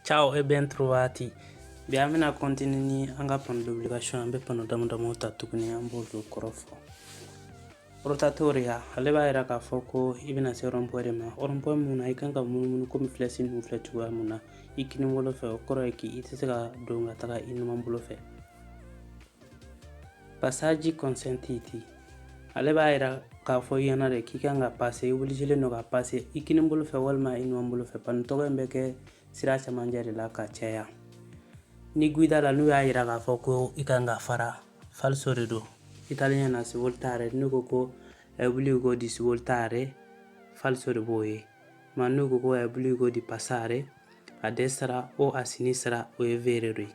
Ciao e ben trovati. Bi an bɛna kɔntini ni an ka pano d'obligation an bɛ pano dama damaw ta tuguni an b'olu kɔrɔ fɔ rotatoria ale b'a yira k'a fɔ ko i bɛna se rɔnpɔɛ de ma rɔnpɔɛ mun na i kan ka munumunu komi filɛsi ninnu filɛ cogoya mun na i kini bolo fɛ o kɔrɔ ye k'i i tɛ se ka don ka taga i numan bolo fɛ passaggi consentiti ale b'a yira k'a fɔ i ɲɛna de k'i kan ka pase obligé don ka pase i kini bolo fɛ walima i numan bolo fɛ pano tɔgɔ in bɛ kɛ sira camancɛ de la ka caya ni guida la n'u y'a jira k'a fɔ ko i kan ka fara falso de don italien na svoltare n'u ko ko obbligo di svoltare falso de b'o ye ma n'u ko ko obbligo di passare a destra o a sinistra o ye vero de ye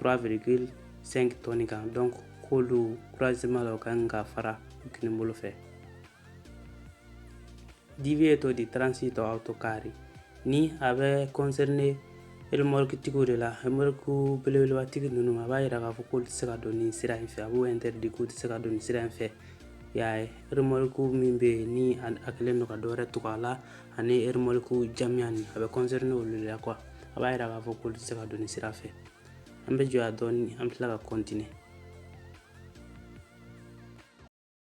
3,5 tɔni kan donc olu croisement la u ka kan ka fara kini bolo fɛ divieto di transito autocarri nin a bɛ kɔnsɛrine remɔrikitigiw de la remɔriku belebelebatigi ninnu a b'a yira k'a fɔ k'olu tɛ se ka don nin sira in fɛ a b'u interdit k'u tɛ se ka don nin sira in fɛ y'a ye remɔriku min bɛ yen ni a kɛlen don ka dɔ wɛrɛ tugu a la ani remɔriku jamijan nin a bɛ kɔnsɛrine olu de la quoi a b'a yira k'a fɔ k'olu tɛ se ka don nin sira fɛ an bɛ jɔ yan dɔɔni an bɛ tila ka kɔntine